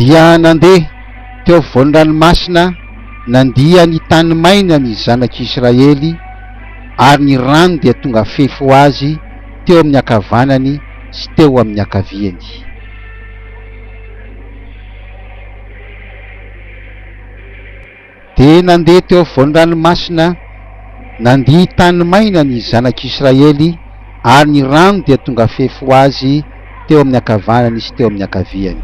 dia nandeha teo afovoan'ny ranomasina nandia ny tany maina ny zanak'i Israely ary ny rano dia tonga fefy ho azy teo amin'ny ankavanany sy teo amin'ny ankaviany. Dia nandeha teo afovoan'ny ranomasina nandia tany maina ny zanak'Israely, ary ny rano dia tonga fefy ho azy teo amin'ny ankavanany sy teo amin'ny ankaviany.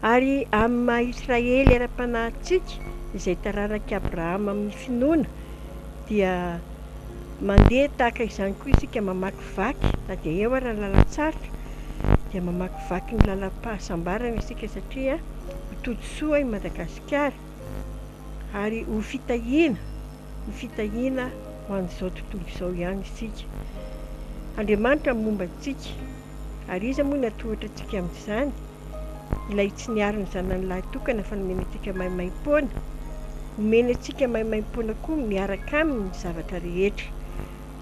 Ary amin'ny maha Israely ara-panahintsika, izay taranak'i Abrahama amin'ny finoana, dia. Mandeha tahaka izany koa isika mamakivaky na dia eo ary ny lalan-tsarotra dia mamakivaky ny lalam-pahasambarana isika satria ho todisoa i Madagasikara ary ho fitahiana, ho fitahiana ho an'izao tontolo izao ihany isika. Andriamanitra momba antsika. Ary iza moa no hatohitra antsika amin'izany? Ilay tsy niaro ny Zanany lahy tokana fa nomena antsika maimaim-poana. Omeny antsika maimaim-poana koa miaraka Aminy ny zavatra rehetra.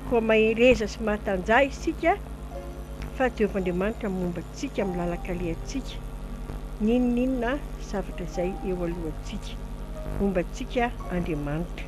Koa mahereza sy mahatanjaha isika fa Jehovah Andriamanitra momba antsika amin'ny lalan-kalehantsika, n'inon'inona zavatra izay eo alohantsika. Momba antsika Andriamanitra.